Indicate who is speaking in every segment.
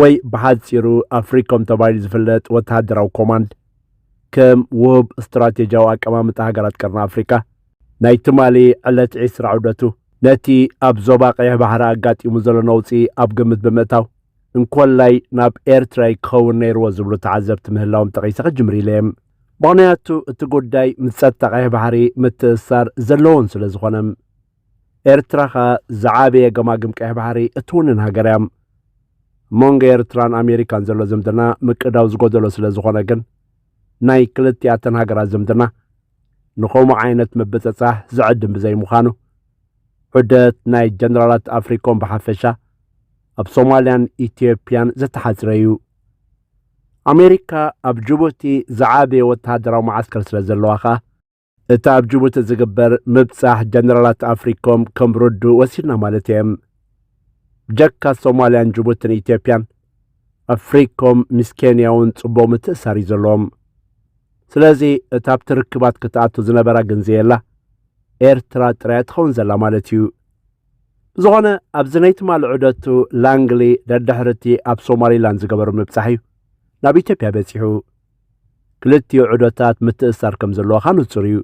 Speaker 1: ወይ ብሓጺሩ ኣፍሪኮም ተባሂሉ ዝፍለጥ ወተሃደራዊ ኮማንድ ከም ውሁብ ስትራቴጂያዊ ኣቀማምጣ ሃገራት ቀርኒ ኣፍሪካ ናይ ትማሊ ዕለት ዒስራ ዑደቱ ነቲ ኣብ ዞባ ቀይሕ ባሕሪ ኣጋጢሙ ዘሎ ነውጺ ኣብ ግምት ብምእታው እንኮላይ ናብ ኤርትራ እዩ ክኸውን ነይርዎ ዝብሉ ተዓዘብቲ ምህላዎም ጠቒሰ ክጅምር ኢለ እየ። ምኽንያቱ እቲ ጉዳይ ምስ ጸጥታ ቀይሕ ባሕሪ ምትእስሳር ዘለዎን ስለዝኾነ። ኤርትራ ከኣ ዝዓበየ ገማግም ቀይሕ ባሕሪ እትውንን ሃገር እያ። መንጎ ኤርትራን ኣሜሪካን ዘሎ ዝምድና ምቅዳው ዝጎደሎ ስለ ዝኾነ ግን ናይ ክልቲኣተን ሃገራት ዝምድና ንኸምኡ ዓይነት ምብጽጻሕ ዝዕድም ብዘይምዃኑ ዑደት ናይ ጀነራላት ኣፍሪኮም ብሓፈሻ ኣብ ሶማልያን ኢትዮጵያን ዝተሓጽረ እዩ። ኣሜሪካ ኣብ ጅቡቲ ዝዓበየ ወተሃደራዊ መዓስከር ስለ ዘለዋ ከኣ እቲ ኣብ ጅቡቲ ዝግበር ምብጻሕ ጀነራላት ኣፍሪኮም ከም ርዱእ ወሲድና ማለት እየ። ብጀካ ሶማልያን ጅቡትን ኢትዮጵያን ኣፍሪኮም ምስ ኬንያ እውን ጽቡቕ ምትእሳር እዩ ዘለዎም። ስለዚ እታ ኣብቲ ርክባት ክትኣቱ ዝነበራ ግን ዘየላ ኤርትራ ጥራያ ትኸውን ዘላ ማለት እዩ። ብዝኾነ ኣብዚ ናይ ትማሊ ዑደቱ ላንግሊ ደድሕርቲ ኣብ ሶማሊላንድ ዝገበሩ ምብጻሕ እዩ ናብ ኢትዮጵያ በጺሑ። ክልቲኡ ዑደታት ምትእስሳር ከም ዘለዎኻ ንጹር እዩ።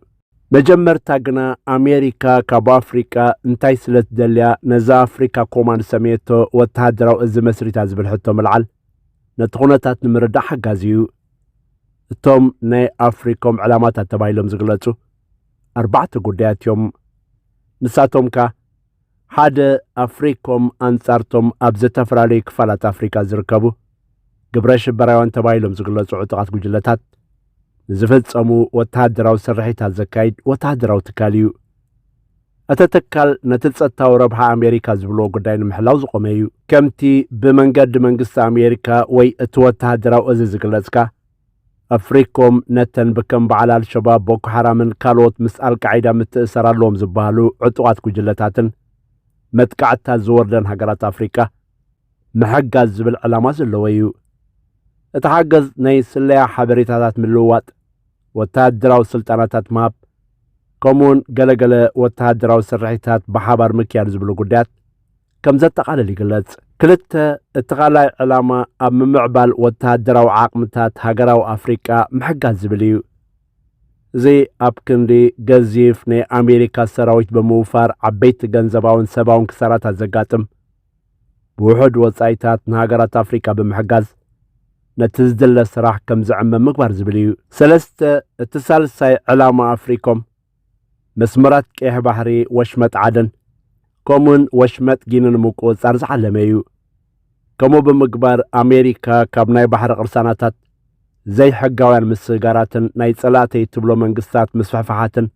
Speaker 1: መጀመርታ ግና ኣሜሪካ ካብ ኣፍሪቃ እንታይ ስለትደልያ ነዛ ኣፍሪካ ኮማንድ ሰመየቶ ወተሃደራዊ እዚ መስሪታ ዝብል ሕቶ ምልዓል ነቲ ኩነታት ንምርዳእ ሓጋዚ እዩ። እቶም ናይ ኣፍሪኮም ዕላማታት ተባሂሎም ዝግለጹ ኣርባዕተ ጉዳያት እዮም። ንሳቶም ከኣ ሓደ ኣፍሪኮም ኣንጻርቶም ኣብ ዝተፈላለዩ ክፋላት ኣፍሪካ ዝርከቡ ግብረ ሽበራውያን ተባሂሎም ዝግለጹ ዕጡቓት ጉጅለታት ንዝፈጸሙ ወተሃደራዊ ስርሒታት ዘካይድ ወተሃደራዊ ትካል እዩ። እቲ ትካል ነቲ ጸጥታዊ ረብሓ ኣሜሪካ ዝብልዎ ጉዳይ ንምሕላው ዝቖመ እዩ። ከምቲ ብመንገዲ መንግስቲ ኣሜሪካ ወይ እቲ ወተሃደራዊ እዚ ዝግለጽካ ኣፍሪኮም ነተን ብከም በዓል ኣልሸባብ ቦኮ ሓራምን ካልኦት ምስ ኣልቃዒዳ ምትእስሳር ኣለዎም ዝበሃሉ ዕጡቓት ጉጅለታትን መጥቃዕትታት ዝወርደን ሃገራት ኣፍሪቃ ምሕጋዝ ዝብል ዕላማ ዘለዎ እዩ። እቲ ሓገዝ ናይ ስለያ ሓበሬታታት ምልውዋጥ፣ ወተሃደራዊ ስልጠናታት ምሃብ፣ ከምኡውን ገለገለ ወተሃደራዊ ስርሒታት ብሓባር ምክያድ ዝብሉ ጉዳያት ከም ዘጠቓልል ይግለጽ። ክልተ እቲ ካልኣይ ዕላማ ኣብ ምምዕባል ወተሃደራዊ ዓቕምታት ሃገራዊ ኣፍሪቃ ምሕጋዝ ዝብል እዩ። እዚ ኣብ ክንዲ ገዚፍ ናይ ኣሜሪካ ሰራዊት ብምውፋር ዓበይቲ ገንዘባውን ሰባውን ክሳራታት ዘጋጥም ብውሑድ ወጻኢታት ንሃገራት ኣፍሪቃ ብምሕጋዝ ነቲ ዝድለ ስራሕ ከም ዝዕመ ምግባር ዝብል እዩ። ሰለስተ እቲ ሳልሳይ ዕላማ ኣፍሪኮም መስመራት ቀይሕ ባሕሪ፣ ወሽመጥ ዓደን ከምኡውን ወሽመጥ ጊኒ ንምቁጽጻር ዝዓለመ እዩ። ከምኡ ብምግባር ኣሜሪካ ካብ ናይ ባሕሪ ቅርሳናታት ዘይሕጋውያን ምስግጋራትን ናይ ጸላእተይ እትብሎ መንግስታት ምስፍሕፋሓትን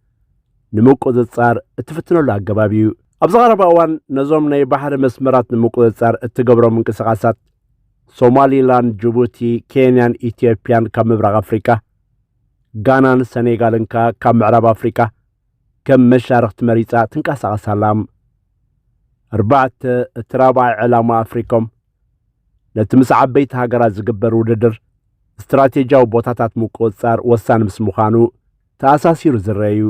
Speaker 1: ንምቁጽጻር እትፍትነሉ ኣገባብ እዩ። ኣብዚ ቀረባ እዋን ነዞም ናይ ባሕሪ መስመራት ንምቁጽጻር እትገብሮም ምንቅስቓሳት ሶማሊላንድ፣ ጅቡቲ፣ ኬንያን ኢትዮጵያን ካብ ምብራቕ ኣፍሪቃ ጋናን ሰኔጋልን ከኣ ካብ ምዕራብ ኣፍሪቃ ከም መሻርኽቲ መሪጻ ትንቀሳቐስ ኣላ። ኣርባዕተ፣ እቲ ራብዓይ ዕላማ ኣፍሪኮም፣ ነቲ ምስ ዓበይቲ ሃገራት ዝግበር ውድድር ስትራቴጂያዊ ቦታታት ምቁጽጻር ወሳኒ ምስ ምዃኑ ተኣሳሲሩ ዝረኣ'ዩ።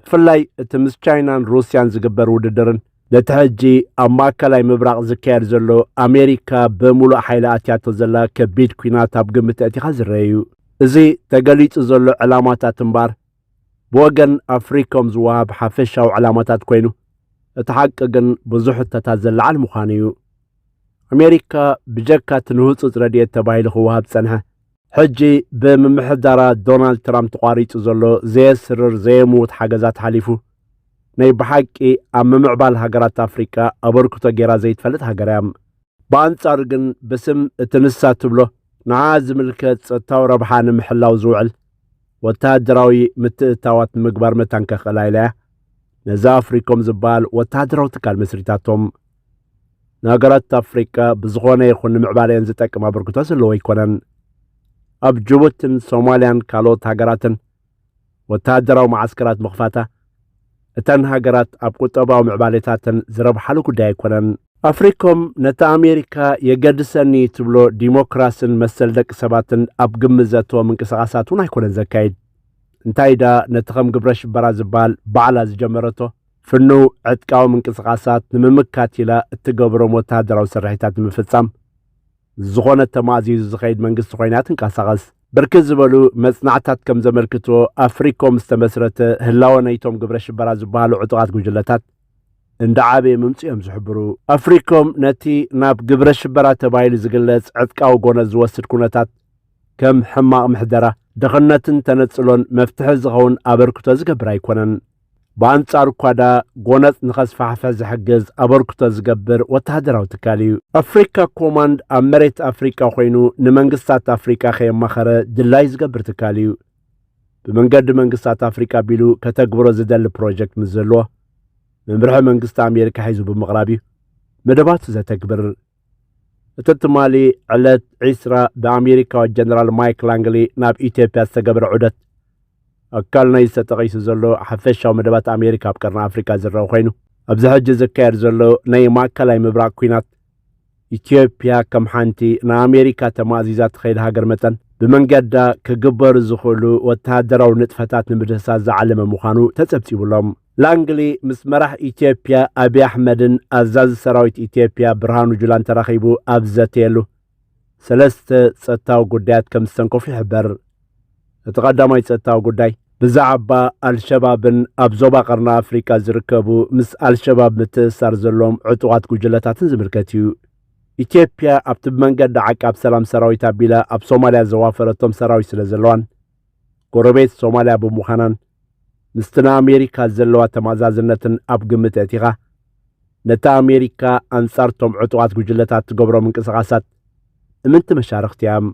Speaker 1: ብፍላይ እቲ ምስ ቻይናን ሩስያን ዝግበር ውድድርን ነቲ ሕጂ ኣብ ማእከላይ ምብራቕ ዝካየድ ዘሎ ኣሜሪካ ብምሉእ ሓይሊ ኣትያቶ ዘላ ከቢድ ኲናት ኣብ ግምት ኣእቲኻ ዝረአ እዩ። እዚ ተገሊጹ ዘሎ ዕላማታት እምበኣር ብወገን ኣፍሪኮም ዝወሃብ ሓፈሻዊ ዕላማታት ኮይኑ እቲ ሓቂ ግን ብዙሕ ሕቶታት ዘለዓል ምዃኑ እዩ። ኣሜሪካ ብጀካ እቲ ንህጹጽ ረድኤት ተባሂሉ ክወሃብ ዝጸንሐ ሕጂ ብምምሕዳራ ዶናልድ ትራምፕ ተቋሪጹ ዘሎ ዘየስርር ዘየምውት ሓገዛት ሓሊፉ ናይ ብሓቂ ኣብ ምምዕባል ሃገራት ኣፍሪቃ ኣበርክቶ ገይራ ዘይትፈልጥ ሃገር እያ። ብኣንጻሩ ግን ብስም እቲ ንሳ ትብሎ ንዓኣ ዝምልከት ጸጥታዊ ረብሓ ንምሕላው ዝውዕል ወተሃደራዊ ምትእትታዋት ንምግባር መታን ከኽእላ ኢላ እያ ነዚ ኣፍሪኮም ዝበሃል ወተሃደራዊ ትካል መስሪታቶም። ንሃገራት ኣፍሪቃ ብዝኾነ ይኹን ንምዕባሌን ዝጠቅም ኣበርክቶ ዘለዎ ኣይኮነን። ኣብ ጅቡትን ሶማልያን ካልኦት ሃገራትን ወተሃደራዊ መዓስከራት ምኽፋታ እተን ሃገራት ኣብ ቁጠባዊ ምዕባሌታተን ዝረብሓሉ ጉዳይ ኣይኮነን። ኣፍሪኮም ነቲ ኣሜሪካ የገድሰኒ ትብሎ ዲሞክራስን መሰል ደቂ ሰባትን ኣብ ግምት ዘእተወ ምንቅስቓሳት እውን ኣይኮነን ዘካይድ። እንታይ ድኣ ነቲ ከም ግብረ ሽበራ ዝበሃል ባዕላ ዝጀመረቶ ፍኑው ዕጥቃዊ ምንቅስቓሳት ንምምካት ኢላ እትገብሮም ወተሃደራዊ ስርሒታት ንምፍጻም ዝኾነ ተማእዚዙ ዝኸይድ መንግስቲ ኮይና እያ ትንቀሳቐስ። ብርክት ዝበሉ መጽናዕትታት ከም ዘመልክትዎ ኣፍሪኮም ዝተመስረተ ህላወ ናይቶም ግብረ ሽበራ ዝበሃሉ ዕጡቓት ጉጅለታት እንዳዓበየ ምምጽኡ እዮም ዝሕብሩ። ኣፍሪኮም ነቲ ናብ ግብረ ሽበራ ተባሂሉ ዝግለጽ ዕጥቃዊ ጎነጽ ዝወስድ ኩነታት ከም ሕማቕ ምሕደራ፣ ድኽነትን ተነጽሎን መፍትሒ ዝኸውን ኣበርክቶ ዝገብር ኣይኮነን። ብኣንጻሩ ኳዳ ጎነጽ ንኸስፋሕፈ ዝሕግዝ ኣበርክቶ ዝገብር ወተሃደራዊ ትካል እዩ። ኣፍሪካ ኮማንድ ኣብ መሬት ኣፍሪቃ ኮይኑ ንመንግስታት ኣፍሪቃ ከየማኸረ ድላይ ዝገብር ትካል እዩ። ብመንገዲ መንግስታት ኣፍሪቃ ቢሉ ከተግብሮ ዝደሊ ፕሮጀክት ምስ ዘለዎ መምርሒ መንግስቲ ኣሜሪካ ሒዙ ብምቕራብ እዩ መደባቱ ዘተግብር። እቲ ትማሊ ዕለት ዒስራ ብኣሜሪካዊ ጀነራል ማይክ ላንግሊ ናብ ኢትዮጵያ ዝተገበረ ዑደት ኣካል ናይዚ ተጠቒሱ ዘሎ ሓፈሻዊ መደባት ኣሜሪካ ኣብ ቀርኒ ኣፍሪካ ዝረአ ኮይኑ ኣብዚ ሕጂ ዝካየድ ዘሎ ናይ ማእከላይ ምብራቕ ኲናት ኢትዮጵያ ከም ሓንቲ ንኣሜሪካ ተማእዚዛ ትኸይድ ሃገር መጠን ብመንገዳ ክግበሩ ዝኽእሉ ወተሃደራዊ ንጥፈታት ንምድህሳስ ዝዓለመ ምዃኑ ተጸብጺቡሎም። ላንግሊ ምስ መራሕ ኢትዮጵያ ኣብይ ኣሕመድን ኣዛዚ ሰራዊት ኢትዮጵያ ብርሃኑ ጁላን ተራኺቡ ኣብ ዝዘተየሉ ሰለስተ ጸጥታዊ ጉዳያት ከም ዝተንከፉ ይሕበር። እቲ ቀዳማይ ጸጥታዊ ጉዳይ ብዛዕባ ኣልሸባብን ኣብ ዞባ ቀርኒ ኣፍሪቃ ዝርከቡ ምስ ኣልሸባብ ምትእስሳር ዘለዎም ዕጡቓት ጉጅለታትን ዝምልከት እዩ። ኢትዮጵያ ኣብቲ ብመንገዲ ዓቃብ ሰላም ሰራዊት ኣቢላ ኣብ ሶማልያ ዘዋፈረቶም ሰራዊት ስለ ዘለዋን ጎረቤት ሶማልያ ብምዃናን ምስቲ ንኣሜሪካ ዘለዋ ተማእዛዝነትን ኣብ ግምት ኣእቲኻ ነቲ ኣሜሪካ ኣንጻርቶም ዕጡቓት ጉጅለታት ትገብሮ ምንቅስቓሳት እምንቲ መሻርኽቲ እያም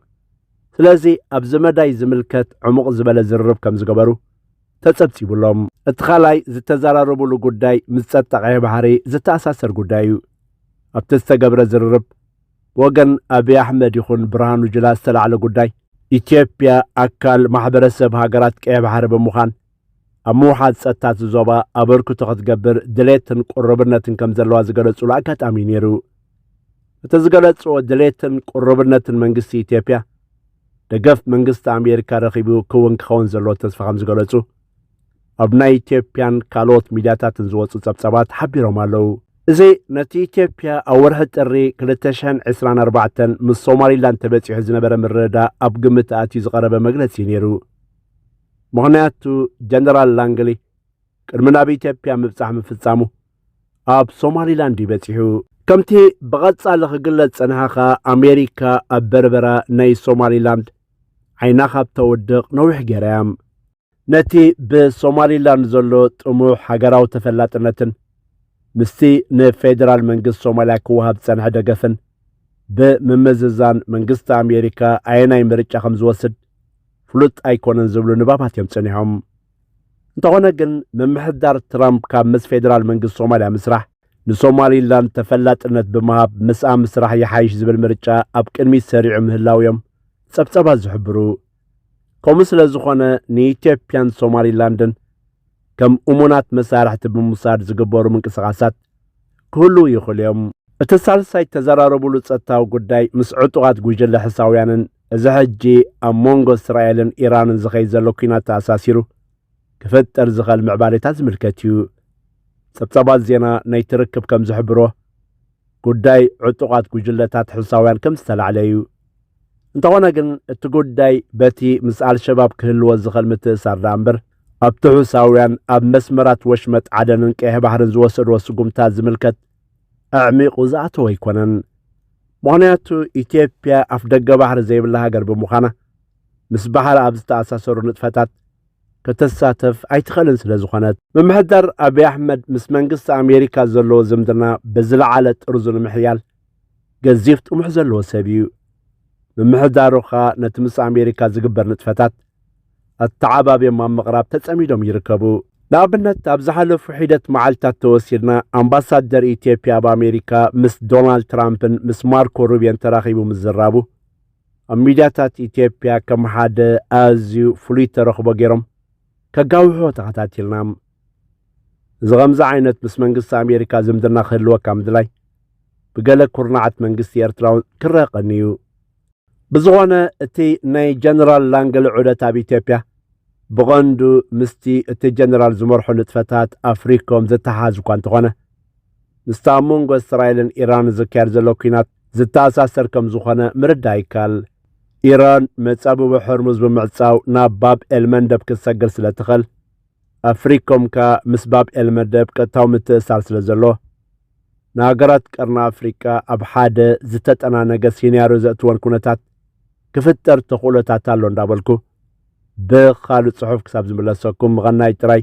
Speaker 1: ስለዚ ኣብዚ መዳይ ዝምልከት ዕሙቕ ዝበለ ዝርርብ ከም ዝገበሩ ተጸብጺቡሎም እቲ ካልኣይ ዝተዘራረቡሉ ጉዳይ ምስ ጸጥታ ቀይሕ ባሕሪ ዝተኣሳሰር ጉዳይ እዩ ኣብቲ ዝተገብረ ዝርርብ ብወገን ኣብይ ኣሕመድ ይኹን ብርሃኑ ጁላ ዝተላዕለ ጉዳይ፣ ኢትዮጵያ ኣካል ማሕበረሰብ ሃገራት ቀይሕ ባሕሪ ብምዃን ኣብ ምውሓዝ ጸጥታ እቲ ዞባ ኣበርክቶ ክትገብር ድሌትን ቅሩብነትን ከም ዘለዋ ዝገለጹሉ ኣጋጣሚ እዩ ነይሩ። እቲ ዝገለጽዎ ድሌትን ቅሩብነትን መንግስቲ ኢትዮጵያ ደገፍ መንግስቲ ኣሜሪካ ረኺቡ ክውን ክኸውን ዘለዎ ተስፋ ከም ዝገለጹ ኣብ ናይ ኢትዮጵያን ካልኦት ሚድያታትን ዝወፁ ፀብፃባት ሓቢሮም ኣለው። እዚ ነቲ ኢትዮጵያ ኣብ ወርሒ ጥሪ 2024 ምስ ሶማሊላንድ ተበፂሑ ዝነበረ ምርድዳእ ኣብ ግምት ኣእትዩ ዝቐረበ መግለፂ እዩ ነይሩ። ምኽንያቱ ጀነራል ላንግሊ ቅድሚ ናብ ኢትዮጵያ ምብፃሕ ምፍፃሙ ኣብ ሶማሊላንድ እዩ በጺሑ። ከምቲ ብቐጻሊ ክግለጽ ጸንሓ ከኣ ኣሜሪካ ኣብ በርበራ ናይ ሶማሊላንድ ዓይና ካብ ተውድቕ ነዊሕ ገይራ እያ። ነቲ ብሶማሊላንድ ዘሎ ጥሙሕ ሃገራዊ ተፈላጥነትን ምስቲ ንፌደራል መንግስቲ ሶማልያ ክወሃብ ዝጸንሐ ደገፍን ብምምዝዛን መንግስቲ ኣሜሪካ ኣየናይ ምርጫ ከም ዝወስድ ፍሉጥ ኣይኮነን ዝብሉ ንባባት እዮም ጸኒሖም። እንተኾነ ግን ምምሕዳር ትራምፕ ካብ ምስ ፌደራል መንግስቲ ሶማልያ ምስራሕ ንሶማሊላንድ ተፈላጥነት ብምሃብ ምስኣ ምስራሕ ይሓይሽ ዝብል ምርጫ ኣብ ቅድሚት ሰሪዑ ምህላው እዮም ጸብጸባት ዝሕብሩ። ከምኡ ስለ ዝኾነ ንኢትዮጵያን ሶማሊላንድን ከም እሙናት መሳርሕቲ ብምውሳድ ዝግበሩ ምንቅስቓሳት ክህልዉ ይኽእሉ እዮም። እቲ ሳልሳይ እተዘራረቡሉ ጸጥታዊ ጉዳይ ምስ ዕጡቓት ጉጅለ ሕሳውያንን እዚ ሕጂ ኣብ ሞንጎ እስራኤልን ኢራንን ዝኸይድ ዘሎ ኲናት ተኣሳሲሩ ክፍጠር ዝኽእል ምዕባሌታት ዝምልከት እዩ። ጸብጻባት ዜና ናይቲ ርክብ ከም ዝሕብሮ፣ ጉዳይ ዕጡቓት ጉጅለታት ሕሳውያን ከም ዝተላዕለ እዩ። እንተኾነ ግን እቲ ጉዳይ በቲ ምስ ኣልሸባብ ክህልዎ ዝኽእል ምትእሳር ደኣ እምበር ኣብቲ ሑሳውያን ኣብ መስመራት ወሽመጥ ዓደንን ቀይሕ ባሕርን ዝወሰድዎ ስጉምታ ዝምልከት ኣዕሚቑ ዝኣተወ ኣይኮነን። ምኽንያቱ ኢትዮጵያ ኣፍ ደገ ባሕሪ ዘይብላ ሃገር ብምዃና ምስ ባሕሪ ኣብ ዝተኣሳሰሩ ንጥፈታት ከተሳተፍ ኣይትኽእልን ስለ ዝኾነት ምምሕዳር ኣብዪ ኣሕመድ ምስ መንግስቲ ኣሜሪካ ዘለዎ ዝምድና ብዝለዓለ ጥርዙ ንምሕያል ገዚፍ ጥሙሕ ዘለዎ ሰብ እዩ። ምምሕዳሩ ከኣ ነቲ ምስ ኣሜሪካ ዝግበር ንጥፈታት ኣተዓባብዮም ኣብ ምቕራብ ተጸሚዶም ይርከቡ። ንኣብነት ኣብ ዝሓለፉ ሒደት መዓልታት ተወሲድና ኣምባሳደር ኢትዮጵያ ኣብ ኣሜሪካ ምስ ዶናልድ ትራምፕን ምስ ማርኮ ሩብዮን ተራኺቡ ምዝራቡ ኣብ ሚድያታት ኢትዮጵያ ከም ሓደ ኣዝዩ ፍሉይ ተረኽቦ ገይሮም ከጋውሖ ተኸታቲልና እዚ ከምዚ ዓይነት ምስ መንግስቲ ኣሜሪካ ዝምድና ክህልወካ ምድላይ ብገለ ኩርናዓት መንግስቲ ኤርትራውን ክረአ ቀንዩ ብዝኾነ እቲ ናይ ጀነራል ላንገለ ዑደት ኣብ ኢትዮጵያ ብቐንዱ ምስቲ እቲ ጀነራል ዝመርሖ ንጥፈታት ኣፍሪኮም ዝተሓሓዝ እኳ እንተኾነ ምስቲ ኣብ መንጎ እስራኤልን ኢራንን ዝካየድ ዘሎ ኲናት ዝተኣሳሰር ከም ዝኾነ ምርዳእ ይከኣል። ኢራን መጻብቦ ሕርሙዝ ብምዕጻው ናብ ባብ ኤልመንደብ ክትሰግር ስለ ትኸል፣ ኣብ ፍሪኮም ከኣ ምስ ባብ ኤልመደብ ቀጥታዊ ምትእሳር ስለ ዘሎ፣ ንሃገራት ቀርኒ ኣፍሪቃ ኣብ ሓደ ዝተጠናነገ ሲንያርዮ ዘእትወን ኩነታት ክፍጠር ተኽእሎታት ኣሎ እንዳበልኩ ብኻልእ ጽሑፍ ክሳብ ዝምለሰኩም ምቐናይ ጥራይ።